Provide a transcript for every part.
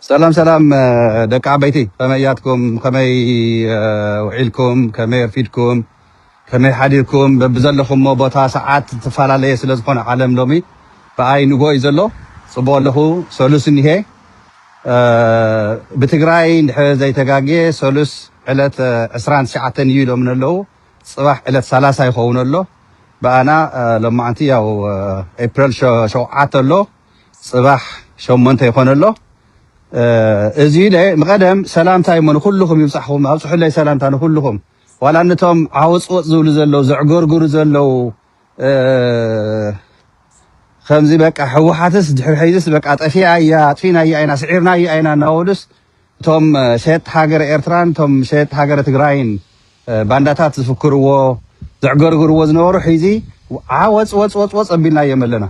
ሰላም ሰላም ደቂ ዓበይቲ ከመይ ያትኩም ከመይ ውዒልኩም ከመይ ኣርፊድኩም ከመይ ሓዲርኩም በብዘለኹሞ ቦታ ሰዓት ትፈላለየ ስለ ዝኾነ ዓለም ሎሚ ብኣይ ንጎ እዩ ዘሎ ጽቡቅ ኣለኹ ሰሉስ እኒሄ ብትግራይ እንድሕር ዘይተጋግየ ሰሉስ ዕለት 29 እዩ ኢሎምን ኣለዉ ጽባሕ ዕለት 30 ይኸውን ኣሎ ብኣና ሎማዓንቲ ያው ኤፕሪል ሸውዓተ ኣሎ ጽባሕ ሸሞንተ ይኾን ኣሎ እዚ ምቐደም ሰላምታ እሞ ንኩልኹም ይብጻሕኹም ኣብጽሑለይ ሰላምታ ንኩልኹም ዋላ ነቶም ዓወጽወጽ ዝብሉ ዘለዉ ዘዕገርግሩ ዘለዉ ከምዚ በቃ ህወሓትስ ድሕሪ ሕዝስ በቃ ጠፊኣ እያ ኣጥፊናያ ኢና ስዒርናያ ኢና እናበሉስ እቶም ሸየጥቲ ሃገረ ኤርትራን እቶም ሸየጥቲ ሃገረ ትግራይን ባንዳታት ዝፍክርዎ ዘዕገርግርዎ ዝነበሩ ሕዚ ዓወጽ ወጽ ወጽ ወጽ ኣቢልናዮም ኣለና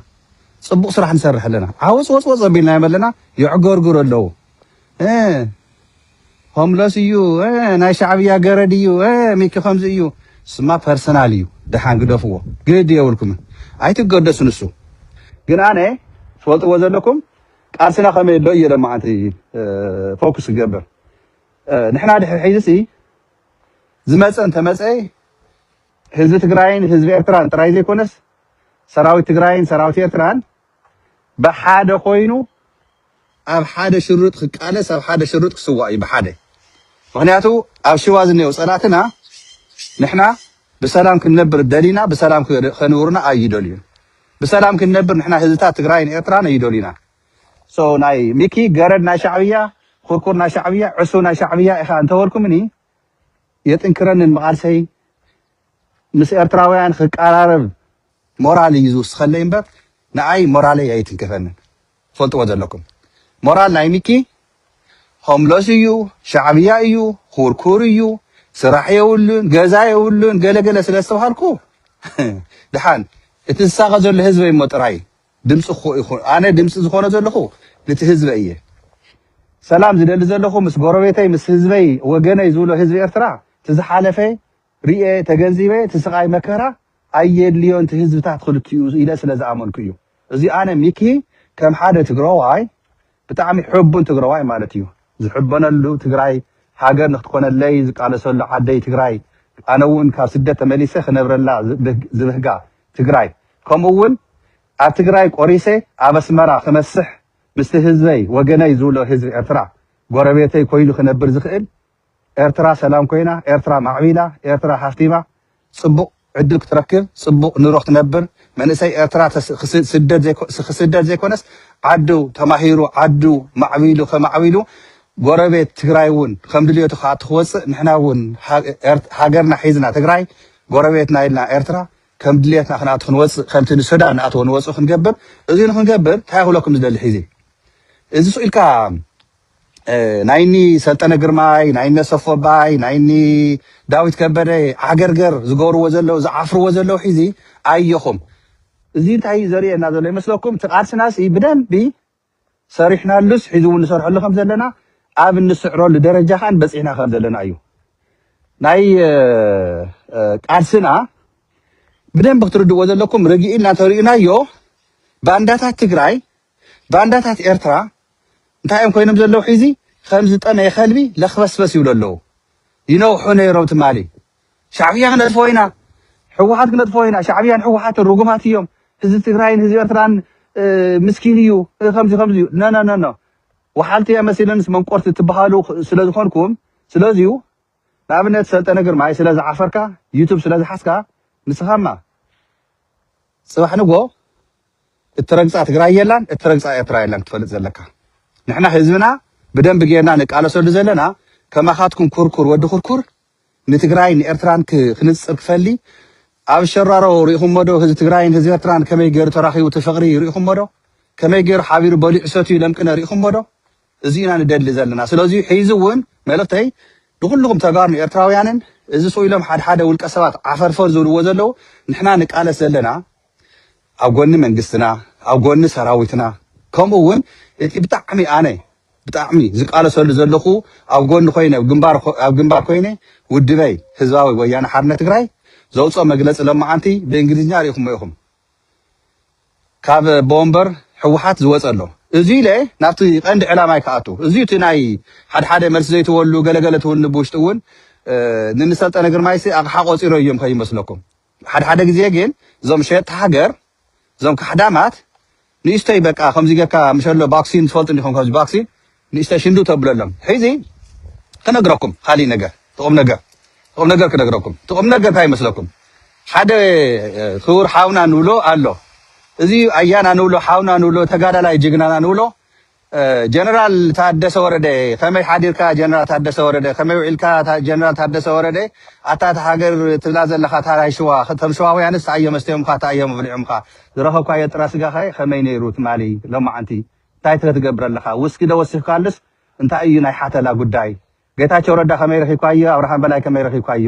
ፅቡቅ ስራሕ ንሰርሕ ኣለና ዓወፅወፅወፅ ኣቢልናዮም ኣለና የዕገርግሩ ኣለው ሆምለስ እዩ ናይ ሻዕብያ ገረድ እዩ ሚኪ ከምዚ እዩ ስማ ፐርሰናል እዩ ደሓን ግደፍዎ ግድ የብልኩም ኣይትገደሱ ንሱ ግን ኣነ ትፈልጥዎ ዘለኩም ቃልስና ከመይ ኣሎ እየ ለማዓንቲ ፎኩስ ክገብር ንሕና ድሕሪ ሕዚ ዝመፀ እንተመፀ ህዝቢ ትግራይን ህዝቢ ኤርትራን ጥራይ ዘይኮነስ ሰራዊት ትግራይን ሰራዊት ኤርትራን ብሓደ ኮይኑ ኣብ ሓደ ሽርጥ ክቃለስ ኣብ ሓደ ሽርጥ ክስዋእ እዩ ብሓደ ምክንያቱ ኣብ ሽዋ ዝነየው ፀላእትና ንሕና ብሰላም ክንነብር ደሊና ብሰላም ከንብሩና ኣይደልዩን ብሰላም ክንነብር ንሕና ህዝብታት ትግራይን ኤርትራን ኣይደልዩና ናይ ሚኪ ገረድ ናይ ሻዕብያ ኩርኩር ናይ ሻዕብያ ዕሱ ናይ ሻዕብያ ኢኻ እንተበልኩምኒ የጥንክረንን መቓልሰይ ምስ ኤርትራውያን ክቀራረብ ሞራል እዩ ዝውስኸለይ እምበር ንኣይ ሞራለይ ኣይትንከፈንን ትፈልጥዎ ዘለኩም ሞራል ናይ ሚኪ ሆምለስ እዩ ሻዕብያ እዩ ኩርኩር እዩ ስራሕ የብሉን ገዛ የብሉን ገለገለ ስለ ዝተባሃልኩ ድሓን እቲ ዝሳቐ ዘሎ ህዝበይ እሞ ጥራይ ድምፂ እኮ ኢኹ ኣነ ድምፂ ዝኾነ ዘለኹ ንቲ ህዝበይ እየ ሰላም ዝደሊ ዘለኹ ምስ ጎረቤተይ ምስ ህዝበይ ወገነይ ዝብሎ ህዝቢ ኤርትራ እቲ ዝሓለፈ ሪኤ ተገንዚበ እቲ ስቃይ መከራ ኣየድልዮን እቲ ህዝብታት ክልቲኡ ኢለ ስለ ዝኣመንኩ እዩ እዚ ኣነ ሚኪ ከም ሓደ ትግራዋይ ብጣዕሚ ሕቡን ትግረዋይ ማለት እዩ ዝሕበነሉ ትግራይ ሃገር ንክትኮነለይ ዝቃለሰሉ ዓደይ ትግራይ ኣነ እውን ካብ ስደት ተመሊሰ ክነብረላ ዝብህጋ ትግራይ ከምኡ እውን ኣብ ትግራይ ቆሪሰ ኣብ ኣስመራ ክመስሕ ምስቲ ህዝበይ ወገነይ ዝብሎ ህዝቢ ኤርትራ ጎረቤተይ ኮይኑ ክነብር ዝክእል ኤርትራ ሰላም ኮይና ኤርትራ ማዕቢላ ኤርትራ ሃፍቲማ ጽቡቅ ዕድል ክትረክብ ጽቡቅ ንሮ ክትነብር መንእሰይ ኤርትራ ክስደድ ዘይኮነስ ዓዱ ተማሂሩ ዓዱ ማዕቢሉ ከማዕቢሉ ጎረቤት ትግራይ ውን ከምድልየቱ ክኣቱ ክወጽእ ንሕና ውን ሃገርና ሒዝና ትግራይ ጎረቤትና ኢልና ኤርትራ ከም ድልየትና ክንኣቱ ክንወጽእ ከምቲ ንሱዳን ንኣትዎ ንወጽኡ ክንገብር እዚ ንክንገብር እንታይ ክብለኩም ዝደሊ ሒዚ እዚ ስኢልካ ናይ እኒ ሰልጠነ ግርማይ ናይ እኒ ኣሰፉ ኣባይ ናይ እኒ ዳዊት ከበደ ዓገርገር ዝገብርዎ ዘለው ዝዓፍርዎ ዘለው ሒዚ ኣየኹም እዚ እንታይ እዩ ዘርእየና ዘሎ ይመስለኩም እቲ ቃልስናሲ ብደንቢ ሰሪሕናሉስ ሒዚ እውን ንሰርሐሉ ከም ዘለና ኣብ እንስዕረሉ ደረጃ ከን በፂሕና ከም ዘለና እዩ ናይ እ፣ እ፣ ቃልስና ብደንብ ክትርድዎ ዘለኩም ርግኢልና ተርእዩናዮ ባንዳታት ትግራይ ባንዳታት ኤርትራ እንታይ እዮም ኮይኖም ዘለዉ ሒዚ ከም ዝጠመየ ከልቢ ለክበስበስ ይብሉ ኣለዉ ይነውሑ ነይሮም ትማሊ ሻዕብያ ክነጥፎ ኢና ሕወሓት ክነጥፎ ኢና ሻዕብያን ሕወሓትን ርጉማት እዮም ህዝቢ ትግራይን ህዝቢ ኤርትራን ምስኪን እዩ ከምዚ ከምዚ እዩ ነነነኖ ወሓልቲ እያ መሲለንስ መንቆርቲ ትበሃሉ ስለ ዝኾንኩም ስለዚዩ ንኣብነት ሰልጠነ ግርማይ ስለ ዝዓፈርካ ዩቱብ ስለ ዝሓዝካ ንስኻማ ጽባሕ ንግሆ እትረግጻ ትግራይ የላን እትረግጻ ኤርትራ የላን ክትፈልጥ ዘለካ። ንሕና ህዝብና ብደንቢ ጌርና ንቃለሰሉ ዘለና ከማኻትኩም ኩርኩር ወዲ ኩርኩር ንትግራይ ንኤርትራን ክንጽር ክፈሊ ኣብ ሸራሮ ሪኢኹሞ ዶ ህዝቢ ትግራይን ህዝቢ ኤርትራን ከመይ ገይሩ ተራኺቡ እቲ ፍቕሪ ሪኢኹሞ ዶ ከመይ ገይሩ ሓቢሩ በሊዑ ሰትዩ ለምቅነ ሪኢኹሞ ዶ እዚ ኢና ንደሊ ዘለና ስለዚ ሕዚ ውን መልእኽተይ ንኹልኹም ተጋሩን ኤርትራውያንን እዚ ሱቅ ኢሎም ሓደ ሓደ ውልቀ ሰባት ዓፈርፈር ዝብልዎ ዘለዉ ንሕና ንቃለስ ዘለና ኣብ ጎኒ መንግስትና ኣብ ጎኒ ሰራዊትና ከምኡ ውን እቲ ብጣዕሚ ኣነ ብጣዕሚ ዝቃለሰሉ ዘለኹ ኣብ ጎኒ ኮይነ ኣብ ግንባር ኣብ ግንባር ኮይነ ውድበይ ህዝባዊ ወያነ ሓርነት ትግራይ ዘውፅኦ መግለፂ ሎማዓንቲ ብእንግሊዝኛ ሪኢኹሞ ኢኹም ካብ ኣቦወንበር ህወሓት ዝወፀ ኣሎ እዙይ ኢለ ናብቲ ቀንዲ ዕላማይ ክኣቱ እዙይ እቲ ናይ ሓድሓደ መልሲ ዘይትበሉ ገለገለ ትውልኒ ብውሽጢ እውን ንንሰልጠነ ግርማይሲ ኣቕሓ ቆፂሮ እዮም ከይመስለኩም ሓድሓደ ግዜ ግን እዞም ሸየጥቲ ሃገር እዞም ካሕዳማት ንእሽተይ በቃ ከምዚ ጌርካ ምሸሎ ባክሲን ትፈልጡ ዲኩም ከምዚ ባክሲን ንእሽተይ ሽንዱ ተብለሎም ሒዚ ክነግረኩም ካሊእ ነገር እቲ ቁምነገር እቲ ቁምነገር ክነግረኩም እቲ ቁምነገር እንታይ ይመስለኩም ሓደ ክቡር ሓውና ንብሎ ኣሎ እዚ ኣያና ንብሎ ሓውና ንብሎ ተጋዳላይ ጅግናና ንብሎ ጀነራል ታደሰ ወረደ ከመይ ሓዲርካ ጀነራል ታደሰ ወረደ ከመይ ውዒልካ ጀነራል ታደሰ ወረደ ኣታ እታ ሃገር ትብላ ዘለካ ታራይ ሽዋ እቶም ሽዋውያንስ ታይ እዮም ኣስተዮምካ ታይ እዮም ኣብሊዖምካ ዝረኸብካዮ ጥረ ስጋኸ ከመይ ነይሩ ትማሊ ሎማዓንቲ ታይትከ ትገብር ኣለካ ውስኪ ዶ ወሲኽካሉስ እንታይ እዩ ናይ ሓተላ ጉዳይ ጌታቸው ረዳ ከመይ ረኺብካዮ ኣብርሃም በላይ ከመይ ረኺብካዮ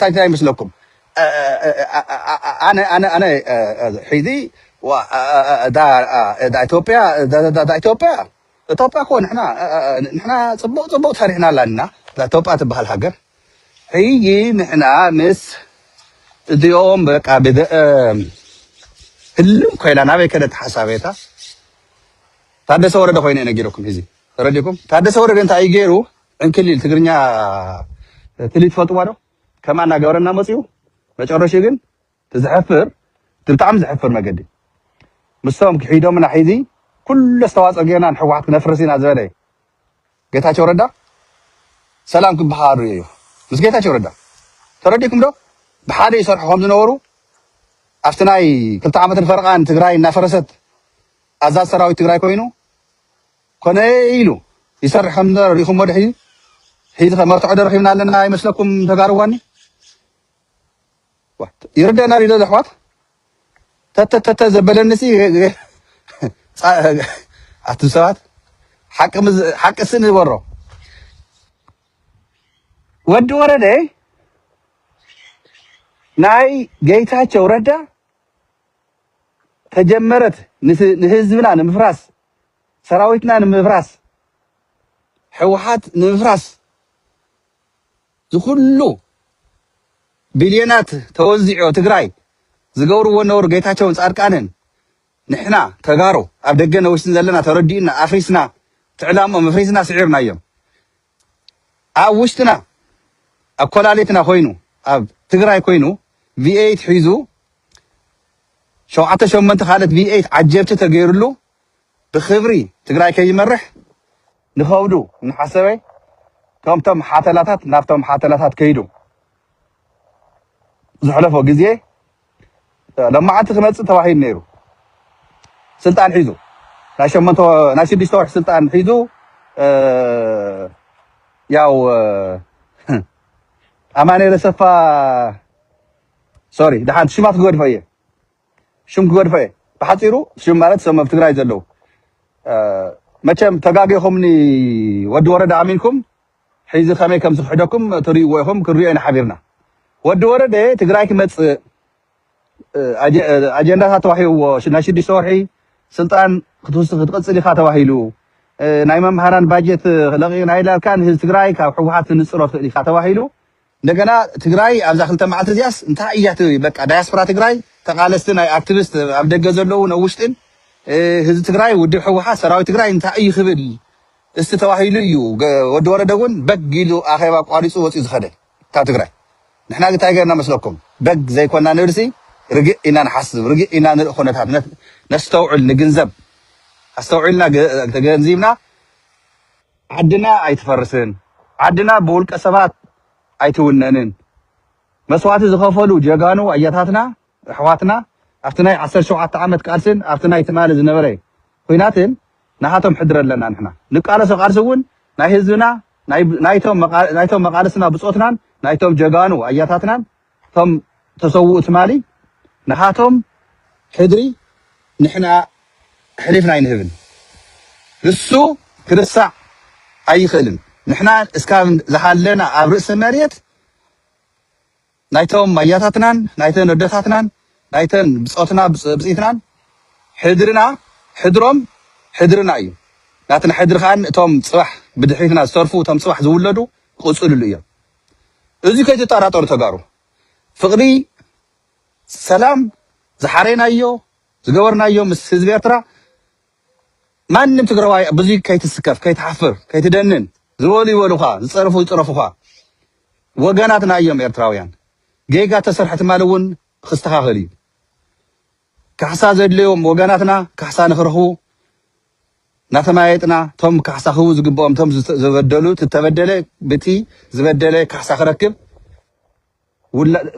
ታይ ታይ ይመስለኩም ኣነ ኣነ ኣነ ሒዚ ዳ ኢትዮጵያ ዳ ኢትዮጵያ ኢትዮጵያ እኮ ንሕና ንሕና ፅቡቅ ፅቡቅ ሰሪሕና ኣለና ዳ ኢትዮጵያ ትበሃል ሃገር ሕጂ ንሕና ምስ እዚኦም በቃ ህልም ኮይና ናበይ ከደት ሓሳቤታ ታደሰ ወረደ ኮይኑ ነጊረኩም ሂዚ ተረዲኩም ታደሰ ወረደ እንታይ እዩ ገይሩ ዕንክሊል ትግርኛ ትልሂት ትፈልጥዋ ዶ ከምኣ እናገበረና መፅኡ መጨረሽኡ ግን ትዝሕፍር ብጣዕሚ ዝሕፍር መገዲ ምስቶም ክሒዶምና ሒዚ ኩሉ ኣስተዋፅኦ ጌርና ንሕወሓት ክነፍርስ ኢና ዝበለ ጌታቸው ረዳ ሰላም ክበሃሉ እዩ ምስ ጌታቸው ረዳ ተረዲኩም ዶ ብሓደ ይሰርሑ ከም ዝነበሩ ኣብቲ ናይ ክልተ ዓመትን ፈረቓን ትግራይ እናፈረሰት ኣዛዝ ሰራዊት ትግራይ ኮይኑ ኮነ ኢሉ ይሰርሕ ከም ዝነበረ ሪኢኹሞ ድሕዩ ሒዚ ከ መርትዖ ደርኺብና ኣለና ይመስለኩም ተጋርዋኒ ይርደና ድዩ ዶ ኣሕዋት ተተተተ ዘበለኒ ሲ ኣቱም ሰባት ሓቂ ሓቂ ሲ ንበሮ ወዲ ወረደ ናይ ጌታቸው ረዳ ተጀመረት ንህዝብና ንምፍራስ ሰራዊትና ንምፍራስ ሕውሓት ንምፍራስ ዝኩሉ ቢልዮናት ተወዚዑ ትግራይ ዝገብርዎ ነውር ጌታቸውን ፃድቃንን ንሕና ተጋሩ ኣብ ደገ ነውሽትን ዘለና ተረዲኡና ኣፍሪስና እቲ ዕላምኦም ኣፍሪስና ስዒርናዮም ኣብ ውሽጥና ኣብ ኮላሊትና ኮይኑ ኣብ ትግራይ ኮይኑ ቪኤይት ሒዙ ሸውዓተ ሸሞንተ ካልኦት ቪኤይት ዓጀብቲ ተገይርሉ ብኽብሪ ትግራይ ከይመርሕ ንኸብዱ እናሓሰበ ከምቶም ሓተላታት ናብቶም ሓተላታት ከይዱ ዘሕለፎ ግዜ ለማዓንቲ ክመፅእ ተባሂሉ ነይሩ ስልጣን ሒዙ ናይ ሸመንተ ናይ ስድስተ ወርሒ ስልጣን ሒዙ ያው ኣማኔለ ሰፋ ሶሪ ድሓንቲ ሽማት ክገድፎ እየ ሽም ክገድፎ እየ ብሓፂሩ ሽም ማለት ሰም ኣብ ትግራይ ዘለው መቸም ተጋጊኹምኒ ወዲ ወረደ ኣሚንኩም ሕዚ ከመይ ከም ዝኽሕደኩም ትሪእዎ ኢኹም ክንሪኦ ኢና ሓቢርና ወዲ ወረደ ትግራይ ክመፅእ ኣጀንዳታት ተዋሂብዎ ናይ ሽዱሽተ ወርሒ ስልጣን ክትቅፅል ኢኻ ተባሂሉ ናይ መምሃራን ባጀት ለቂቕና ኢላልካ ንህዝቢ ትግራይ ካብ ሕወሓት ክንፅሎ ትኽእል ኢኻ ተባሂሉ እንደገና ትግራይ ኣብዛ ክልተ መዓልቲ እዚኣስ እንታይ እያ ትብል በቃ ዳያስፖራ ትግራይ ተቃለስቲ ናይ ኣክቲቪስት ኣብ ደገ ዘለውን ኣብ ውሽጥን ህዝቢ ትግራይ ውድብ ሕወሓት ሰራዊት ትግራይ እንታይ እዩ ክብል እስቲ ተባሂሉ እዩ ወዲ ወረደ እውን በግ ኢሉ ኣኼባ ቋሪፁ ወፂኡ ዝኸደ ካብ ትግራይ ንሕና እንታይ ገርና መስለኩም በግ ዘይኮና ንብልሲ ርግእ ኢና ንሓስብ ርግእ ኢና ንርኢ ኩነታት ነስተውዕል ንግንዘብ ኣስተውዒልና ተገንዚብና ዓድና ኣይትፈርስን ዓድና ብውልቀ ሰባት ኣይትውነንን መስዋእቲ ዝኸፈሉ ጀጋኑ ኣያታትና ኣሕዋትና ኣብቲ ናይ ዓሰርተ ሸውዓተ ዓመት ቃልስን ኣብቲ ናይ ትማሊ ዝነበረ ኹናትን ናሃቶም ሕድሪ ኣለና ንሕና ንቃለሶ ቃልሲ እውን ናይ ህዝብና ናይ ናይቶም መቃልስትና ብፆትናን ናይቶም ጀጋኑ ኣያታትናን እቶም ተሰውኡ ትማሊ ናሃቶም ሕድሪ ንሕና ኣሕሊፍና ኣይንህብን ንሱ ክርሳዕ ኣይኽእልን ንሕና እስካብ ዝሃለና ኣብ ርእሲ መሬት ናይቶም ኣያታትናን ናይተን ኣደታትናን ናይተን ብጾትና ብጽኢትናን ሕድርና ሕድሮም ሕድርና እዩ ናትና ሕድሪ ከኣ እቶም ጽባሕ ብድሕሪትና ዝተርፉ እቶም ጽባሕ ዝውለዱ ክቕጽልሉ እዮም እዚ ከይትጣራጠሩ ተጋሩ ፍቅሪ ሰላም ዝሓረይናዮ ዝገበርናዮ ምስ ህዝቢ ኤርትራ ማንም ትግራዋይ ብዙይ ከይትስከፍ ከይትሓፍር ከይትደንን ዝበሉ ይበሉኻ ዝጸርፉ ይጽረፉኻ ወገናትና እዮም ኤርትራውያን ጌጋ ተሰርሐ ትማሊ እውን ክስተኻኸል እዩ ካሕሳ ዘድለዮም ወገናትና ካሕሳ ንክረኽቡ እናተመያየጥና እቶም ካሕሳ ክህቡ ዝግበኦም እቶም ዝበደሉ እቲ ዝተበደለ ብቲ ዝበደለ ካሕሳ ክረክብ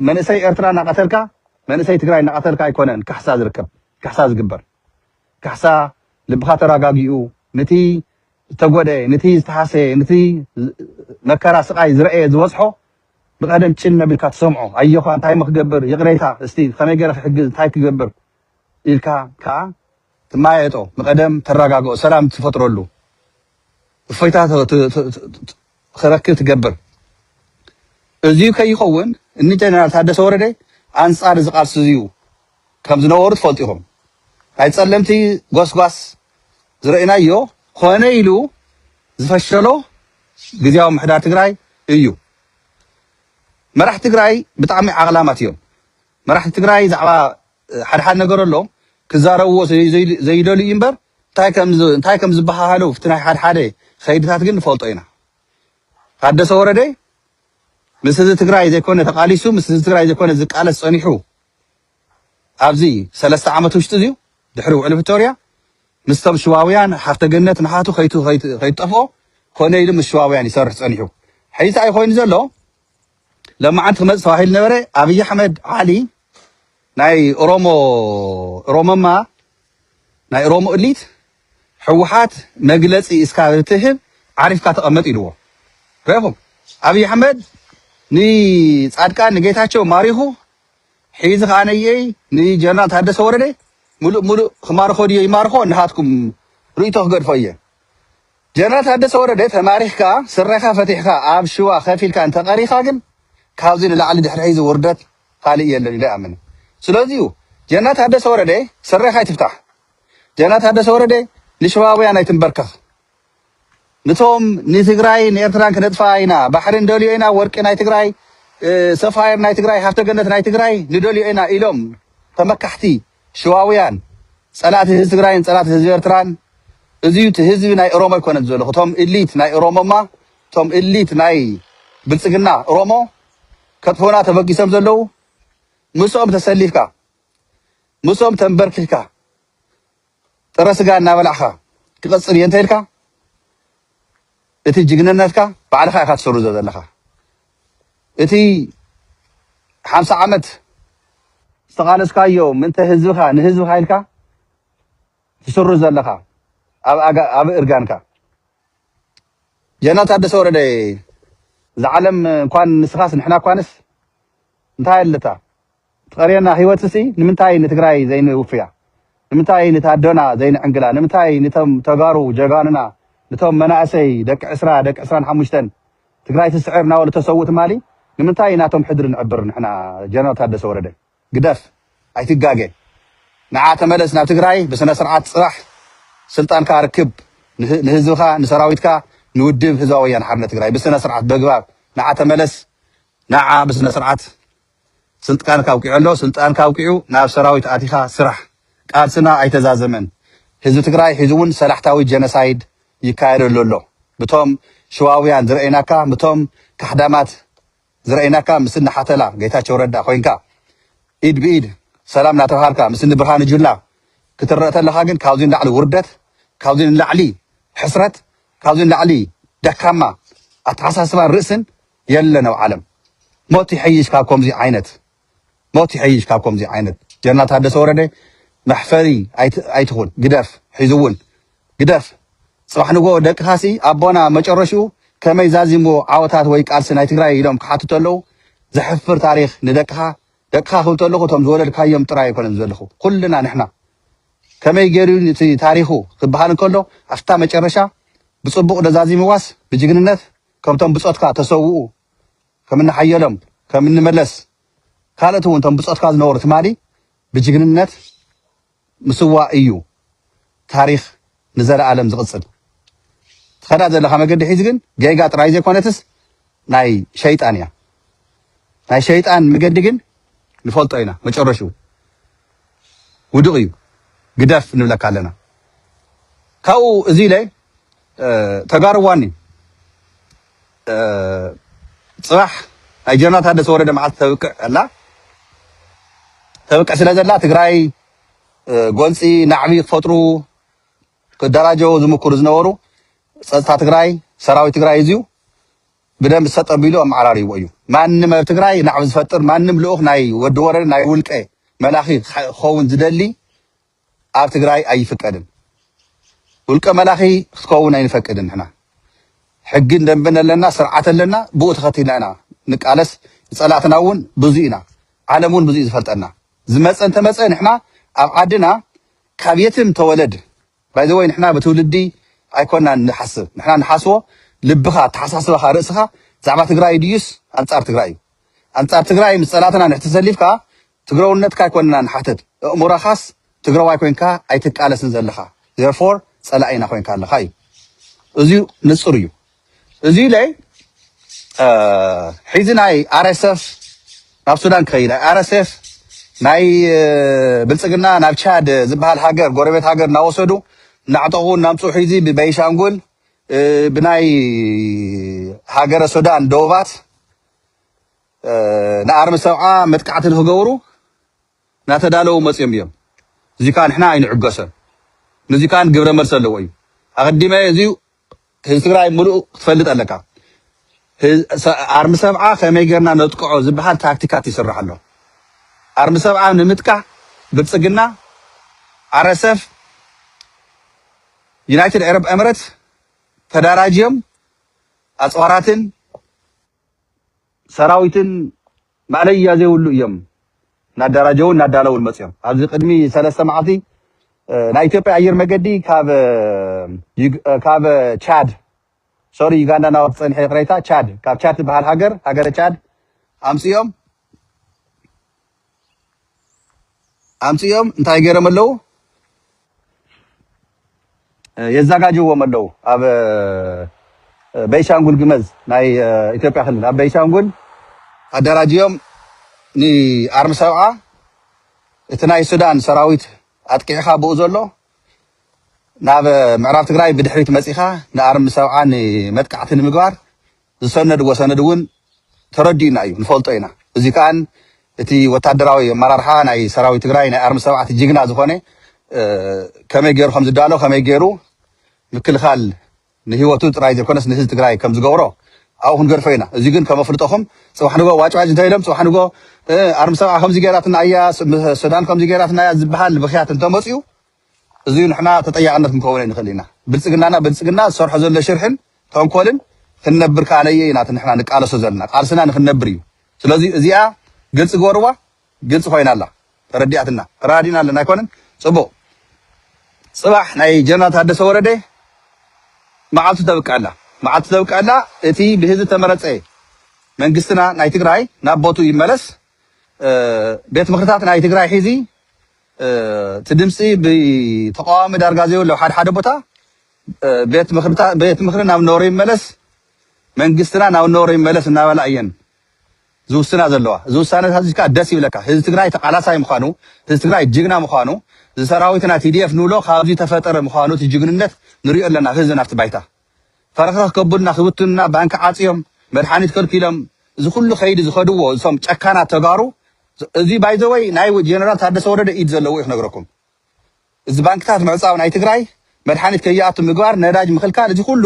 መንእሰይ ኤርትራ እናቐተልካ መንእሰይ ትግራይ እናቐተልካ ኣይኮነን ካሕሳ ዝርከብ ካሕሳ ዝግበር ካሕሳ ልብኻ ተረጋጊኡ ንቲ ዝተጎደ ንቲ ዝተሃሰየ ንቲ መከራ ስቓይ ዝረእየ ዝበፅሖ ብቀደም ጭል እናቢልካ ትሰምዖ ኣዮኻ እንታይ እሞ ክገብር ይቅሬታ እስቲ ከመይ ገረ ክሕግዝ እንታይ ክገብር ኢልካ ከኣ ትመያየጦ ንቀደም ተራጋግኦ ሰላም ትፈጥረሉ እፎይታ ክረክብ ትገብር እዚዩ ከይኸውን እኒ ጀነራል ታደሰ ወረደ ኣንጻር እዚ ቃልሲ እዚዩ ከም ዝነበሩ ትፈልጡ ኢኹም። ናይ ጸለምቲ ጎስጓስ ዝረእናዮ ኮነ ኢሉ ዝፈሸሎ ግዝያዊ ምሕዳር ትግራይ እዩ። መራሕቲ ትግራይ ብጣዕሚ ዓቕላማት እዮም። መራሕቲ ትግራይ ዛዕባ ሓደ ሓደ ነገር ኣሎ ክዛረብዎ ዘይደልዩ እምበር እንታይ ከም ዝበሃሃሉ እቲ ናይ ሓደ ሓደ ከይድታት ግን ንፈልጦ ኢና። ታደሰ ወረደ ምስ ህዝቢ ትግራይ ዘይኮነ ተቃሊሱ ምስ ህዝቢ ትግራይ ዘይኮነ ዝቃለስ ጸኒሑ ኣብዚ ሰለስተ ዓመት ውሽጢ እዚዩ ድሕሪ ውዕሊ ፕሪቶርያ ምስቶም ሽዋውያን ሃፍተ ገነት ንሓቱ ከይትጠፍኦ ኮነ ኢሉ ምስ ሽዋውያን ይሰርሕ ፀኒሑ ሕዚ እንታይ ኮይኑ ዘሎ ለማዓንቲ ክመፅእ ተባሂሉ ነበረ ኣብይ ኣሕመድ ዓሊ ናይ ኦሮሞ ኦሮሞማ ናይ ኦሮሞ እሊት ሕወሓት መግለፂ እስካ ትህብ ዓሪፍካ ተቐመጥ ኢልዎ ረኹም ኣብይ ኣሕመድ ንፃድቃን ንጌታቸው ማሪኹ ሒዚ ከኣ ነየይ ንጀነራል ታደሰ ወረደ ምሉእ ምሉእ ክማርኾ ድዮ ይማርኾ ንሃትኩም ርእይቶ ክገድፎ እየ ጀነራል ታደሰ ወረደ ተማሪኽካ ስረኻ ፈቲሕካ ኣብ ሽዋ ከፍ ኢልካ እንተቀሪኻ ግን ካብዚ ንላዕሊ ድሕሪ ሒዚ ውርደት ካልእ የለን ኢለ እኣምን ስለዚ እዩ ጀነራል ታደሰ ወረደ ስረኻ ኣይትፍታሕ ጀነራል ታደሰ ወረደ ንሽዋውያን ኣይትንበርከኽ ንቶም ንትግራይ ንኤርትራን ክነጥፍኣ ኢና ባሕሪ ንደልዮ ኢና ወርቂ ናይ ትግራይ ሰፋየር ናይ ትግራይ ሃፍተ ገነት ናይ ትግራይ ንደልዮ ኢና ኢሎም ተመካሕቲ ሽዋውያን ጸላእቲ ህዝቢ ትግራይን ጸላእቲ ህዝቢ ኤርትራን እዚ እቲ ህዝቢ ናይ ኦሮሞ ኣይኮነን ዘሎ እቶም እሊት ናይ ኦሮሞማ እቶም እሊት ናይ ብልጽግና ኦሮሞ ከጥፉና ተበጊሶም ዘለው ምስኦም ተሰሊፍካ ምስኦም ተንበርኪካ ጥረ ስጋ እናበላዕካ ክቅጽል እየ እንተኢልካ እቲ ጅግንነትካ ባዕልኻ ኢኻ ትሰርዞ ዘለኻ እቲ ሓምሳ ዓመት ዝተቃለስካዮ ምንተ ህዝብኻ ንህዝብኻ ኢልካ ትስሩ ዘለኻ ኣብ እርጋንካ ጀነራል ታደሰ ወረደ እዛ ዓለም እንኳን ንስኻስ ንሕና እኳንስ እንታይ ኣለታ ትቀርየና ሂወት ሲ ንምንታይ ንትግራይ ዘይንውፍያ ንምንታይ ንታደና ዘይንዕንግላ ንምንታይ ንቶም ተጋሩ ጀጋኑና ንቶም መናእሰይ ደቂ ዕስራ ደቂ ዕስራን ሓሙሽተን ትግራይ ትስዕር ናበሉ ተሰውኡ ትማሊ ንምንታይ ናቶም ሕድሪ ንዕብር ንሕና ጀነራል ታደሰ ወረደ ግደፍ ኣይትጋገ ንዓ ተመለስ ናብ ትግራይ ብስነስርዓት ፅራሕ ስልጣንካ ርክብ ንህዝብካ ንሰራዊትካ ንውድብ ህዝባዊ ወያነ ሓርነት ትግራይ ብስነስርዓት በግባብ ንዓ ተመለስ ንዓ ብስነስርዓት ስልጥቃንካ ኣብቂዑ ኣሎ ስልጣንካ ኣብቂዑ ናብ ሰራዊት ኣቲካ ስራሕ። ቃልስና ኣይተዛዘመን ህዝቢ ትግራይ ሕዚ እውን ሰላሕታዊ ጀነሳይድ ይካየደሉ ኣሎ ብቶም ሽዋውያን ዝረእይናካ ምቶም ካሕዳማት ዝረእይናካ ምስኒ ሓተላ ጌታቸው ረዳ ኮይንካ ኢድ ብኢድ ሰላም ናተብሃልካ ምስኒ ብርሃኑ ጁላ ክትረእ ተለካ ግን ካብዚ ንላዕሊ ውርደት ካብዚ ንላዕሊ ሕስረት ካብዚ ንላዕሊ ደካማ ኣተሓሳስባን ርእስን የለን ኣብ ዓለም ሞት ይሐይሽ ካብ ኮምዚ ዓይነት ሞት ይሐይሽ ካብ ኮምዚ ዓይነት ጀነራል ታደሰ ወረደ መሕፈሪ ኣይትኹን ግደፍ ሕዚ እውን ግደፍ ፅባሕ ንግሆ ደቅኻሲ ኣቦና መጨረሽኡ ከመይ ዛዚምዎ ዓወታት ወይ ቃልሲ ናይ ትግራይ ኢሎም ክሓቱ ተለዉ ዘሕፍር ታሪኽ ንደቅኻ ደቅኻ ክብል ተለኹ እቶም ዝወለድካዮም ጥራይ ኣይኮነን ዘለኹ ኩልና ንሕና ከመይ ገይሩ እቲ ታሪኹ ክበሃል እንከሎ ኣብታ መጨረሻ ብፅቡቕ ደዛዚምዋስ ብጅግንነት ከምቶም ብጾትካ ተሰውኡ ከም እኒ ሓየሎም ከም እኒ መለስ ካልኦት እውን እቶም ብጾትካ ዝነበሩ ትማሊ ብጅግንነት ምስዋእ እዩ ታሪኽ ንዘለኣለም ዝቕጽል። ትኸዳ ዘለኻ መገዲ ሒዚ ግን ጌጋ ጥራይ ዘይኮነትስ ናይ ሸይጣን እያ። ናይ ሸይጣን መገዲ ግን ንፈልጦ ኢና መጨረሽኡ። ውዱቅ እዩ ግደፍ ንብለካ ኣለና ካብኡ እዚ ኢለ ተጋሩ ዋኒ ፅባሕ ናይ ጀነራል ታደሰ ወረደ መዓልቲ ተብቅዕ ኣላ ተብቅዕ ስለ ዘላ ትግራይ ጎንፂ ናዕቢ ክፈጥሩ ክደራጀው ዝምክሩ ዝነበሩ ፀጥታ ትግራይ ሰራዊት ትግራይ እዚዩ ብደንቢ ሰጠቢሉ ኣመዓራርይዎ እዩ ማንም ኣብ ትግራይ ናዕቢ ዝፈጥር ማንም ልኡኽ ናይ ወዲ ወረደ ናይ ውልቀ መላኺ ክኸውን ዝደሊ ኣብ ትግራይ ኣይፍቀድን ውልቀ መላኺ ክትከውን ኣይንፈቅድን ንሕና ሕግን ደንብን ኣለና ስርዓት ኣለና ብኡ ተኸቲልና ኢና ንቃለስ ንፀላእትና እውን ብዙ ኢና ዓለም እውን ብዙ እዩ ዝፈልጠና ዝመፀ እንተመፀ ንሕና ኣብ ዓድና ካብ የትም ተወለድ ባይ ዘ ወይ ንሕና ብትውልዲ ኣይኮናን ንሓስብ ንሕና ንሓስቦ ልብኻ ኣተሓሳስባኻ ርእስኻ ብዛዕባ ትግራይ ድዩስ ኣንጻር ትግራይ እዩ ኣንጻር ትግራይ ምስ ጸላትና ንሕ ተሰሊፍካ ትግረውነትካ ኣይኮንና ንሓትት እእሙረኻስ ትግረዋይ ኮንካ ኣይትቃለስን ዘለኻ therefore ጸላኢና ኮንካ ኣለኻ እዩ እዚዩ ንጹር እዩ እዚ ላይ ሕዚ ናይ ኣርኤስኤፍ ናብ ሱዳን ክኸይድ ኣርኤስኤፍ ናይ ብልፅግና ናብ ቻድ ዝበሃል ሃገር ጎረቤት ሃገር እናወሰዱ እናዕጠቑ እናምፅኡ ሕዚ ብቤንሻንጉል ብናይ ሃገረ ሱዳን ደቡባት ንኣርሚ ሰብዓ መጥቃዕቲ ንክገብሩ ናተዳለዉ መጽዮም እዮም እዚ ካኣ ንሕና ኣይንዕገሶን ንዚ ካኣ ግብረ መልሲ ኣለዎ እዩ ኣቀዲመ እዚ ህዝቢ ትግራይ ምሉእ ክትፈልጥ ኣለካ ኣርሚ ሰብዓ ከመይ ገርና ነጥቅዖ ዝብሃል ታክቲካት ይስራሕ ኣሎ ኣርሚ ሰብዓ ንምጥቃዕ ብልጽግና ኣረሰፍ ዩናይትድ ኤረብ ኤምረት ተዳራጅዮም ኣጽዋራትን ሰራዊትን ማእለያ ዘይብሉ እዮም እናደራጀውን እናዳለውን መፅዮም። ኣብዚ ቅድሚ ሰለስተ መዓልቲ ናይ ኢትዮጵያ ኣየር መገዲ ካብ ቻድ ሶሪ ዩጋንዳ ናብ ፀንሐ ይቅሬታ ቻድ ካብ ቻድ ትበሃል ሃገር ሃገረ ቻድ ኣምፅኦም ኣምጺኦም እንታይ ገይሮም ኣለው የዛጋጅዎም ኣለው ኣብ በይሻንጉል ግመዝ ናይ ኢትዮጵያ ክልል ኣብ በይሻንጉል ኣደራጅዮም ንኣርሚ ሰብዓ እቲ ናይ ሱዳን ሰራዊት ኣጥቂዕኻ ብኡ ዘሎ ናብ ምዕራብ ትግራይ ብድሕሪት መፂኻ ንኣርሚ ሰብዓ ንመጥቃዕቲ ንምግባር ዝሰነድዎ ሰነድ እውን ተረዲኡና እዩ ንፈልጦ ኢና እዚ ከኣ እቲ ወታደራዊ ኣመራርሓ ናይ ሰራዊት ትግራይ ናይ ኣርሚ ሰብዓት ጅግና ዝኾነ ከመይ ገይሩ ከም ዝዳሎ ከመይ ገይሩ ምክልኻል ንህይወቱ ጥራይ ዘይኮነስ ንህዝቢ ትግራይ ከም ዝገብሮ ኣብኡ ክንገድፎ ኢና እዚ ግን ከም ኣፍልጦኹም ፅባሕ ንጎ ዋጭዋጭ እንተኢሎም ፅባሕ ንጎ ኣርሚ ሰብዓ ከምዚ ገይራትና እያ ሱዳን ከምዚ ገይራትና እያ ዝበሃል ብኽያት እንተመፅኡ እዚዩ ንሕና ተጠያቅነት ክንከውን ኣይንክእል ኢና ብልጽግናና ብልጽግና ዝሰርሖ ዘሎ ሽርሕን ተንኮልን ክንነብር ከኣ ነየይ ኢና እቲ ንሕና ንቃለሶ ዘለና ቃልስና ንክንነብር እዩ ስለዚ እዚኣ ግልጺ ግበርዋ ግልጺ ኮይና ኣላ ተረዲኣትና ተራዲና ኣለና ኣይኮነን ጽቡቅ ጽባሕ ናይ ጀነራል ታደሰ ወረደ መዓልቱ ተብቅዕ ኣላ መዓልቱ ተብቅዕ ኣላ እቲ ብህዝቢ ተመረጸ መንግስትና ናይ ትግራይ ናብ ቦቱ ይመለስ ቤት ምክርታት ናይ ትግራይ ሒዚ እቲ ድምፂ ብተቃዋሚ ዳርጋ ዘይብሉ ኣብ ሓደ ሓደ ቦታ ቤት ምክሪ ናብ ነበሮ ይመለስ መንግስትና ናብ ነበሮ ይመለስ እናበላ እየን ዝውስና ዘለዋ እዚ ውሳነታት እዚ ከዓ ደስ ይብለካ ህዝቢ ትግራይ ተቃላሳይ ምዃኑ ህዝቢ ትግራይ ጅግና ምዃኑ እዚ ሰራዊትና ቲዲኤፍ ንብሎ ካብዚ ተፈጠረ ምዃኑ እቲ ጅግንነት ንሪኦ ኣለና ህዝቢ ናብቲ ባይታ ፈረኽረኽ ከብሉና ክብትኑና ባንኪ ዓጽዮም መድሓኒት ከልኪሎም እዚ ኩሉ ከይዲ ዝኸድዎ እዞም ጨካናት ተጋሩ እዚ ባይዘወይ ናይ ጀነራል ታደሰ ወረደ ኢድ ዘለዎ እዩ ክነግረኩም እዚ ባንክታት ምዕጻው ናይ ትግራይ መድሓኒት ከይኣቱ ምግባር ነዳጅ ምኽልካል እዚ ኩሉ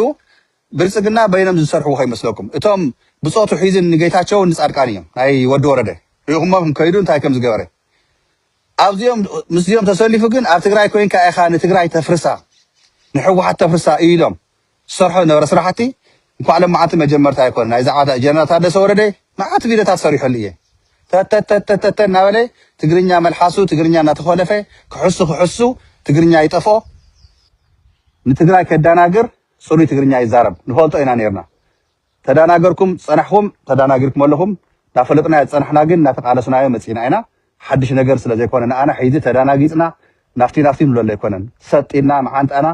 ብልጽግና በይኖም ዝሰርሕዎ ከይመስለኩም እቶም ብጾቱ ሒዝን ንጌታቸውን ንጻድቃን እዮም ናይ ወዲ ወረደ ሪኢኹሞም ከይዱ እንታይ ከም ዝገበረ ኣብዚኦም ምስዚኦም ተሰሊፉ ግን ኣብ ትግራይ ኮይንካ ኢኻ ንትግራይ ተፍርሳ ንሕወሓት ተፍርሳ ኢሎም ዝሰርሖ ዝነበረ ስራሕቲ እንኳዕ ለማዓንቲ መጀመርታ ኣይኮነን ናይ ዛዕባ ጀነራል ታደሰ ወረደ ማዓት ቪደታት ሰሪሖሉ እየ ተተተተተተ እናበለ ትግርኛ መልሓሱ ትግርኛ እናተኾለፈ ክሕሱ ክሕሱ ትግርኛ ይጠፍኦ ንትግራይ ከዳናግር ጽሩይ ትግርኛ ይዛረብ ንፈልጦ ኢና ነርና ተዳናገርኩም ጸናሕኹም ተዳናጊርኩም ኣለኹም ናፈለጥናዮ ዝጸናሕና ግን ናተቃለስናዮ መጺና ኢና ሓድሽ ነገር ስለ ዘይኮነ ንኣና ሒዚ ተዳናጊጽና ናፍቲ ናፍቲ ንብለሉ ኣይኮነን ሰጥ ኢልና መዓንጣና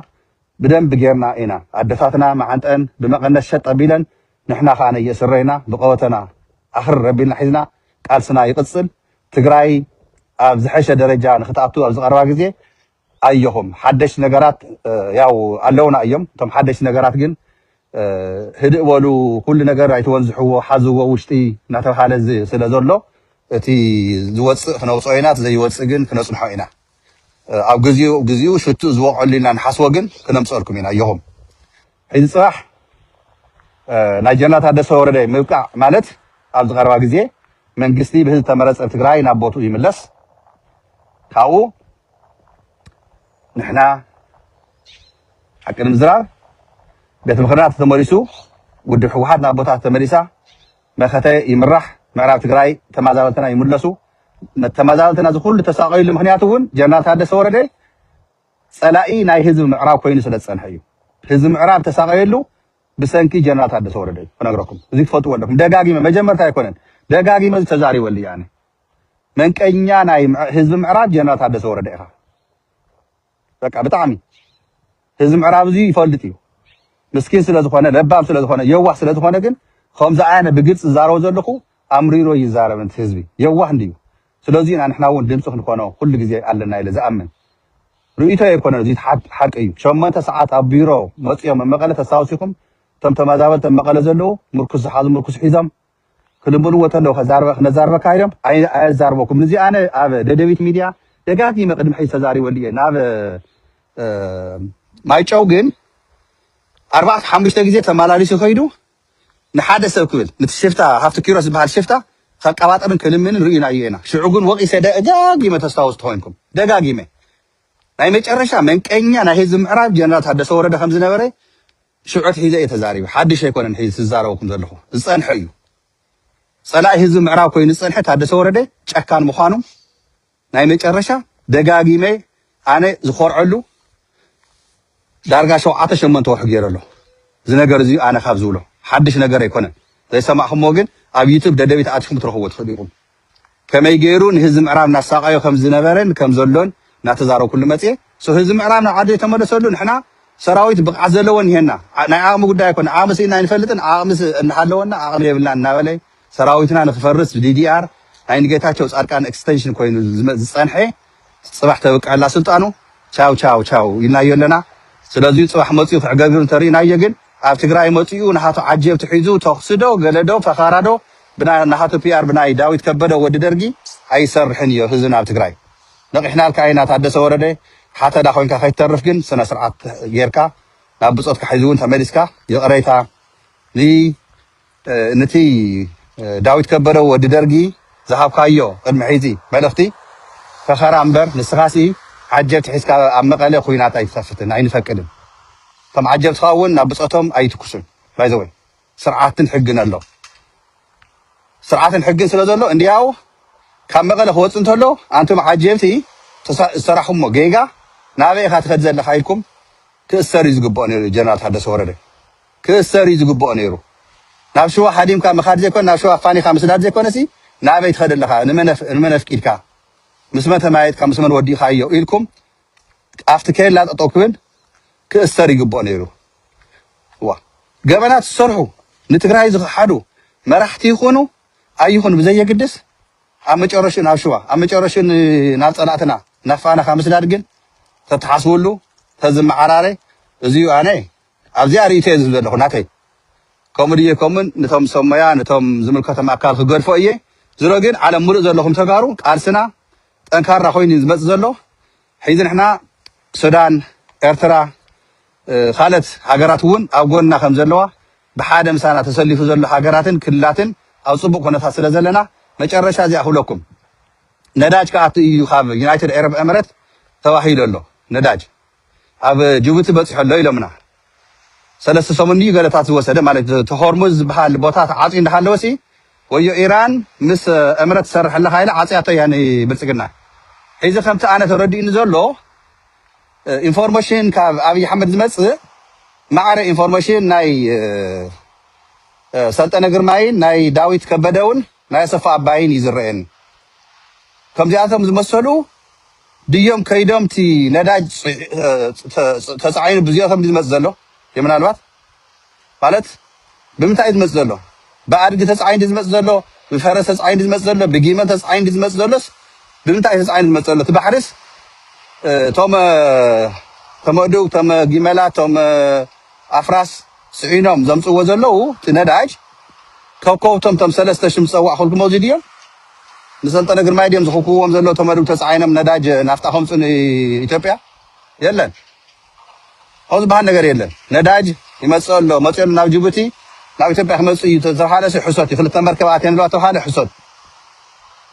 ብደንብ ጌርና ኢና ኣደታትና መዓንጠን ብመቀነት ሸጥ ኣቢለን ንሕና ከኣ ነየእስረይና ብቀወተና ኣኽርር ኣቢልና ሒዝና ቃልስና ይቅጽል ትግራይ ኣብ ዝሐሸ ደረጃ ንክትኣቱ ኣብ ዝቀረባ ግዜ ኣዮኹም ሓደሽቲ ነገራት ያው ኣለውና እዮም እቶም ሓደሽቲ ነገራት ግን ህድእ በሉ ኩሉ ነገር ኣይትወንዝሕዎ ሓዝዎ ውሽጢ እናተብሃለ ስለ ዘሎ እቲ ዝወፅእ ክነውፅኦ ኢና እቲ ዘይወፅእ ግን ክነፅንሖ ኢና ኣብ ግዚኡ ግዚኡ ሽትኡ ዝወቕዐሉ ኢልና ንሓስቦ ግን ክነምፅኦልኩም ኢና ኣዮኹም ሕዚ ፅባሕ ናይ ጀነራል ታደሰ ወረደ ምብቃዕ ማለት ኣብዚ ቀረባ ግዜ መንግስቲ ብህዝቢ ዝተመረፀ ትግራይ ናብ ቦትኡ ይምለስ ካብኡ ንሕና ሓቂ ንምዝራብ ቤት ምኽርና ተተመሊሱ ውድብ ህወሓት ናብ ቦታ ተመሊሳ መኸተ ይምራሕ ምዕራብ ትግራይ ተመዛበልትና ይምለሱ ተመዛበልትና እዚ ኩሉ ተሳቀዩሉ ምክንያት እውን ጀነራል ታደሰ ወረደ ፀላኢ ናይ ህዝቢ ምዕራብ ኮይኑ ስለ ዝፀንሐ እዩ ህዝቢ ምዕራብ ዝተሳቀየሉ ብሰንኪ ጀነራል ታደሰ ወረደ እዩ ክነግረኩም እዚ ትፈልጥዎ ኣለኩም ደጋጊመ መጀመርታ ኣይኮነን ደጋጊመ እዚ ተዛሪበሉ እየ ኣነ መንቀኛ ናይ ህዝቢ ምዕራብ ጀነራል ታደሰ ወረደ ኢኻ በቃ ብጣዕሚ ህዝቢ ምዕራብ እዚ ይፈልጥ እዩ ምስኪን ስለ ዝኾነ ለባም ስለ ዝኾነ የዋህ ስለ ዝኾነ ግን ከምዚ ኣነ ብግልፂ ዝዛረቦ ዘለኹ ኣምሪሮ ይዛረብ ንቲ ህዝቢ የዋህ እንድዩ ስለዚ ኢና ንሕና ውን ድምጺ ክንኮኖ ኩሉ ግዜ ኣለና ኢለ ዝኣምን። ርእይቶይ ኣይኮነን እዚ ሓቂ እዩ። ሸሞንተ ሰዓት ኣብ ቢሮ መጽዮም ኣብ መቐለ ተስታውሲኩም እቶም ተመዛበልቲ ኣብ መቐለ ዘለዉ ምርኩስ ዝሓዙ ምርኩስ ሒዞም ክልምንዎ ተለዉ ክነዛርበካ ኢሎም ኣየዛርበኩምን እዚ ኣነ ኣብ ደደቢት ሚድያ ደጋጊመ ቅድሚ ሕጂ ተዛሪበሉ እየ ናብ ማይጨው ግን ኣርባዕተ ሓሙሽተ ግዜ ተመላሊሱ ከይዱ ንሓደ ሰብ ክብል ንቲ ሽፍታ ሃፍቱ ኪሮስ ዝብሃል ሽፍታ ከቃባጥርን ክልምንን ርእይናዮ ኢና ሽዑ ግን ወቂሰ ደጋጊመ ተስታውስ ተኮይንኩም ደጋጊመ ናይ መጨረሻ መንቀኛ ናይ ህዝቢ ምዕራብ ጀነራል ታደሰ ወረደ ከም ዝነበረ ሽዑ ኣትሒዘ እየ ተዛሪበ ሓድሽ ኣይኮነን ሕዚ ዝዛረበኩም ዘለኹ ዝጸንሐ እዩ ጸላኢ ህዝቢ ምዕራብ ኮይኑ ዝጸንሐ ታደሰ ወረደ ጨካን ምዃኑ ናይ መጨረሻ ደጋጊመ ኣነ ዝኮርዐሉ ዳርጋ ሸውዓተ ሸሞንተ ወርሒ ገይረ ኣለኩ እዚ ነገር እዚ ኣነ ካብ ዝብሎ ሓድሽ ነገር ኣይኮነን ዘይሰማዕክሞ ግን ኣብ ዩቱብ ደደቢት ኣቲኩም ክትረክብዎ ትክእሉ ኢኩም ከመይ ገይሩ ንህዝቢ ምዕራብ ናሳቀዮ ከም ዝነበረን ከም ዘሎን ናተዛረብኩሉ መጽየ ሶ ህዝቢ ምዕራብ ናብ ዓዲ ተመለሰሉ ንሕና ሰራዊት ብቅዓት ዘለዎ እኒሀና ናይ ዓቅሚ ጉዳይ ኣይኮነ ዓቅሚ ስኢና ኣይንፈልጥን ዓቅሚ እናሃለወና ዓቅሚ የብልናን እናበለ ሰራዊትና ንክፈርስ ብddr ናይ ንጌታቸው ፃድቃን ኤክስተንሽን ኮይኑ ዝፀንሐ ፅባሕ ተብቅዐላ ስልጣኑ ቻው ቻው ቻው ኢልናዮ ኣለና ስለዙይ ፅባሕ መፂኡ ክዕገቢሩ እንተሪእናዮ ግን ኣብ ትግራይ መፂኡ ናሃቱ ዓጀብቲ ሒዙ ተኹሲ ዶ ገለ ዶ ፈኻራ ዶ ብናይ ናሃቱ ፒኣር ብናይ ዳዊት ከበደ ወዲ ደርጊ ኣይሰርሕን እዮ ህዝብና ኣብ ትግራይ ነቒሕናልካ ኢና ታደሰ ወረደ ሓተላ ኮይንካ ከይትተርፍ ግን ስነ ስርዓት ጌርካ ናብ ብፆትካ ሕዚ እውን ተመሊስካ ይቕሬታ ን ንቲ ዳዊት ከበደ ወዲ ደርጊ ዝሃብካዮ ቅድሚ ሕዚ መልእኽቲ ፈኸራ እምበር ንስኻሲ ዓጀብቲ ሒዝካ ኣብ መቐለ ኹናት ኣይትኸፍትን ኣይንፈቅድን እቶም ዓጀብትኻ እውን ናብ ብፆቶም ኣይትኩሱን ባይ ዘ ወይ ስርዓትን ሕግን ኣሎ ስርዓትን ሕግን ስለ ዘሎ እንዲያው ካብ መቐለ ክወፅእ እንተሎ ኣንቱም ዓጀብቲ ዝሰራሕኹሞ ጌጋ ናበይ ኢኻ ትኸድ ዘለኻ ኢልኩም ክእሰር እዩ ዝግብኦ ነይሩ ጀነራል ታደሰ ወረደ ክእሰር እዩ ዝግብኦ ነይሩ ናብ ሽዋ ሓዲምካ ምካድ ዘይኮነ ናብ ሽዋ ፋኒካ ምስዳድ ዘይኮነሲ ናበይ ትከድ ኣለካ ንመን ኣፍቂድካ ምስ መን ተመያየጥካ ምስ መን ወዲእካዮ ኢልኩም ኣብቲ ኬላ ጠጠው ክብል ክእሰር ይግብኦ ነይሩ ዋ ገበናት ዝሰርሑ ንትግራይ ዝክሓዱ መራሕቲ ይኹኑ ኣይኹኑ ብዘየግድስ ኣብ መጨረሹ ናብ ሽዋ ኣብ መጨረሹ ናብ ፀላእትና ናብ ፋናካ ምስዳድ ግን ተተሓስብሉ ተዝመዓራረ እዚዩ ኣነ ኣብዚኣ ሪኢቶየ ዝህብ ዘለኹ ናተይ ከምኡ ድየ ከሙን ንቶም ሰብ ሞያ ንቶም ዝምልከቶም ኣካል ክገድፎ እየ ዝሮ ግን ዓለም ሙሉእ ዘለኹም ተጋሩ ቃልስና ጠንካራ ኮይኑ እዩ ዝመጽእ ዘሎ ሒዚ ንሕና ሱዳን ኤርትራ ካልት ሃገራት እውን ኣብ ጎንና ከም ዘለዋ ብሓደ ምሳና ተሰሊፉ ዘሎ ሃገራትን ክልላትን ኣብ ጽቡቅ ኩነታት ስለ ዘለና መጨረሻ እዚኣ ክብለኩም ነዳጅ ክኣቱ እዩ ካብ ዩናይትድ ኤረብ ኤምረት ተባሂሉ ኣሎ ነዳጅ ኣብ ጁቡቲ በጺሑ ኣሎ ኢሎምና። ሰለስተ ሰሙን ድዩ ገለታት ዝወሰደ ማለት እቲ ሆርሙዝ ዝበሃል ቦታ ተዓጽዩ እንዳሃለወሲ ወዮ ኢራን ምስ እምረት ትሰርሕ ኣለኻ ኢላ ዓጽያቶ እያ ንብልጽግና። ሕዚ ከምቲ ኣነ ተረዲኡኒ ዘሎ ኢንፎርሞሽን ካብ ኣብይ ኣሕመድ ዝመጽእ ማዕረ ኢንፎርሞሽን ናይ ሰልጠነ ግርማይን ናይ ዳዊት ከበደውን ናይ ኣሰፋ ኣባይን እዩ ዝረኤኒ ከምዚኣቶም ዝመሰሉ ድዮም ከይዶም እቲ ነዳጅ ተጻዒኑ ብዚኦቶም ድዩ ዝመጽእ ዘሎ ድዩ ምናልባት ማለት ብምንታይ እዩ ዝመጽእ ዘሎ ብኣድጊ ተጻዒኑ ድዩ ዝመጽእ ዘሎ ብፈረስ ተጻዒኑ ድዩ ዝመጽእ ዘሎ ብጊመል ተጻዒኑ ድዩ ዝመጽእ ዘሎስ ብምንታይ እዩ ተጻዒኑ ዝመጽእ ዘሎ እቲ ባሕሪስ እቶም ተመዱግ እቶም ጊመላት እቶም ኣፍራስ ስዒኖም ዘምጽዎ ዘለዉ እቲ ነዳጅ ከከብቶም እቶም ሰለስተ ሽም ዝጸዋዕኩልኩም ኣብዚ ድዮም ንሰልጠነ ግርማይ ድዮም ዝኽኩብዎም ዘሎ እቶም ኣድግ ተጻዒኖም ነዳጅ ናፍጣ ከምጹ ንኢትዮጵያ የለን ከምኡ ዝበሃል ነገር የለን ነዳጅ ይመጽእ ኣሎ መጽኡ ኣሎ ናብ ጅቡቲ ናብ ኢትዮጵያ ክመጽእ እዩ ተተብሃለ ሲ ሕሶት እዩ ክልተ መርከብ ኣትየን ኣለዋ ተብሃለ ሕሶት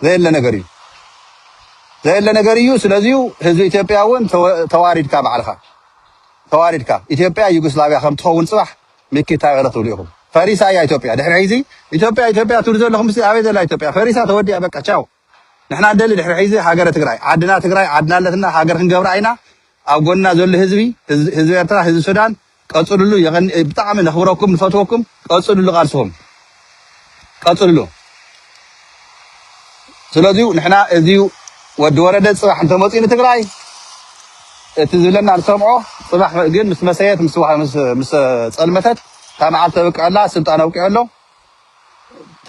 ዘየለ ነገር እዩ ዘየለ ነገር እዩ ስለዚ ህዝቢ ኢትዮጵያ እውን ተዋሪድካ ባዕልኻ ተዋሪድካ ኢትዮጵያ ዩጎስላቪያ ከም ትኸውን ጽባሕ ሚኪ ታይ ኧረ ትብሉ ኢኩም ፈሪሳ እያ ኢትዮጵያ ድሕሪ ሕይዚ ኢትዮጵያ ኢትዮጵያ ትብሉ ዘለኩምሲ ኣበይ ዘላ ኢትዮጵያ ፈሪሳ ተወዲኣ በቃ ቻው ንሕና ንደሊ ድሕሪ ሕይዚ ሃገረ ትግራይ ዓድና ትግራይ ዓድና ኣለትና ሃገር ክንገብራ ኢና ኣብ ጎንና ዘሎ ህዝቢ ህዝቢ ኤርትራ ህዝቢ ሱዳን ቀፅሉሉ የቀኒ ብጣዕሚ ነክብረኩም ንፈትወኩም ቀፅሉሉ ቃልስኩም ቀጽልሉ ስለዚ ንሕና እዚ ወዲ ወረደ ጽባሕ እንተመጽኡ ንትግራይ እቲ ዝብለና ንሰምዖ ጽባሕ ግን ምስ መሰየት ምስ ዋ- ምስ- ምስ ጸልመተት እታ መዓልቲ ተብቅዐላ ስልጣን ኣብቂዑ ኣሎ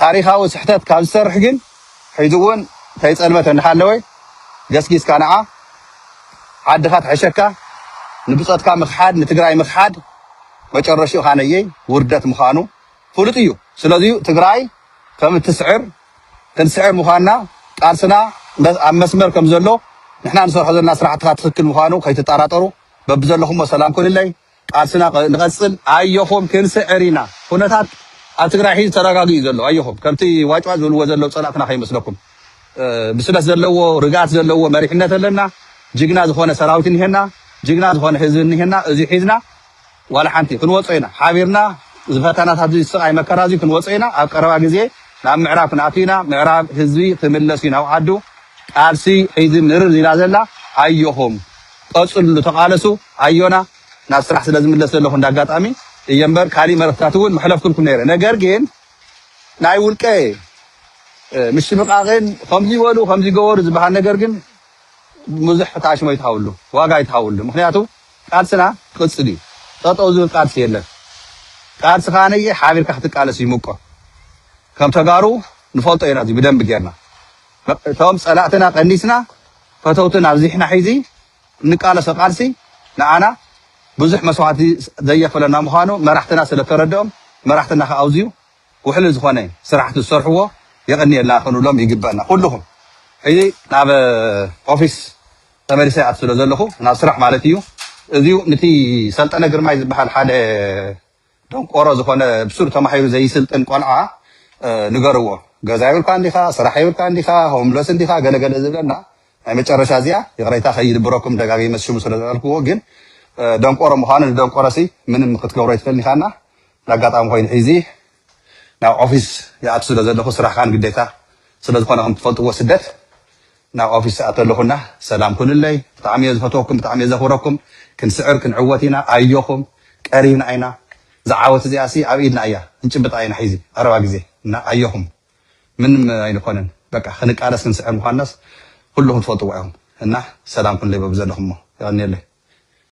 ታሪኻዊ ስሕተት ካብ ዝሰርሕ ግን ሕዚ እውን ከይጸልመተ እናሃለወ ገስጊስካ ንዓ ዓድኻ ትሕሸካ ንብጾትካ ምኽሓድ ንትግራይ ምኽሓድ መጨረሽኡ ኻነየይ ውርደት ምዃኑ ፍሉጥ እዩ ስለዚዩ ትግራይ ከምትስዕር ክንስዕር ምዃንና ቃልስና ኣብ መስመር ከምዘሎ ንሕና ንሰርሖ ዘለና ስራሕትኻ ትኽክል ምዃኑ ከይትጣራጠሩ በብዘለኹሞ ሰላም ኩንለይ ቃልስና ንቐፅል ኣየኹም ክንስዕር ኢና ኩነታት ኣብ ትግራይ ሒዚ ተረጋጊኡ እዩ ዘሎ ኣየኹም ከምቲ ዋጭዋጭ ዝብልዎ ዘለው ፀላእትና ከይመስለኩም ብስለት ዘለዎ ርግኣት ዘለዎ መሪሕነት ኣለና ጅግና ዝኾነ ሰራዊት እኒሀና ጅግና ዝኾነ ህዝቢ እኒሀና እዙይ ሒዝና ዋላ ሓንቲ ክንወጾ ኢና ሓቢርና እዚ ፈተናታት እዚ ስቃይ መከራ እዚ ክንወጾ ኢና ኣብ ቀረባ ግዜ ናብ ምዕራብ ክንኣቱ ኢና ምዕራብ ህዝቢ ክምለስ እዩ ናብ ዓዱ ቃልሲ ሕዚ ምርር ኢላ ዘላ ኣዮኹም ቀጽልሉ ተቃለሱ ኣዮና ናብ ስራሕ ስለ ዝምለስ ዘለኹ እንዳ ኣጋጣሚ እየ እምበር ካሊእ መልእኽትታት እውን መሕለፍኩልኩም ነይረ ነገር ግን ናይ ውልቀ ምሽምቃቅን ከምዚ በሉ ከምዚ ገበሩ ዝበሃል ነገር ግን ብዙሕ ታሽሞ ይትሃውሉ ዋጋ ይትሃውሉ ምክንያቱ ቃልስና ክቅጽል እዩ ጠጠው ዝብል ቃልሲ የለን ቃልሲ ከኣ ነየ ሓቢርካ ክትቃለስ እዩ ምቆ ከም ተጋሩ ንፈልጦ ኢና እዚ ብደንቢ ጌርና እቶም ጸላእትና ቀኒስና ፈተውትና ኣብዚሕና ሒዚ እንቃለሶ ቃልሲ ንኣና ብዙሕ መስዋዕቲ ዘየክፍለና ምዃኑ መራሕትና ስለ ተረድኦም መራሕትና ከኣ ኣውዝዩ ውሕሉል ዝኾነ ስራሕቲ ዝሰርሕዎ የቀንየልና ክንብሎም ይግበና ኩልኹም ሕዚ ናብ ኦፊስ ተመሊሰ ኣብቲ ስለ ዘለኹ ናብ ስራሕ ማለት ኢዩ እዚዩ ንቲ ሰልጠነ ግርማይ ዝብሃል ሓደ ደንቆሮ ዝኾነ ብሱር ተማሂሩ ዘይስልጥን ቆልዓ ንገርዎ ገዛ የብልካን ዲኻ ስራሕ የብልካን ዲኻ ሆምለስ እንዲኻ ገለ ገለ ዝብለና ናይ መጨረሻ እዚኣ ይቕሬታ ከይድብረኩም ደጋጊመ ሽሙ ስለ ዝበልክዎ ግን ደንቆሮ ምዃኑ ንደንቆሮሲ ምንም ክትገብሮ ኣይትኽእልን ኢኻና ንኣጋጣሚ ኮይኑ ሒዚ ናብ ኦፊስ ይኣቱ ስለ ዘለኹ ስራሕኻን ግዴታ ስለ ዝኾነ ከም ትፈልጥዎ ስደት ናብ ኦፊስ ይኣቱ ኣለኹ እና ሰላም ኩኑለይ ብጣዕሚ እየ ዝፈትወኩም ብጣዕሚ እየ ዘኽብረኩም ክንስዕር ክንዕወት ኢና ኣዮኹም ቀሪብና ኢና እዛ ዓወት እዚኣ ሲ ኣብ ኢድና እያ ክንጭብጣ ኢና ሒዚ ቀረባ ግዜ እና ኣዮኹም ምንም ኣይንኾንን በቃ ክንቃለስ ክንስዕር ምዃንናስ ኩሉኹም ትፈልጥዎ ኢኹም እና ሰላም ኩኑለይ በብዘለኹሞ የቐንየለይ።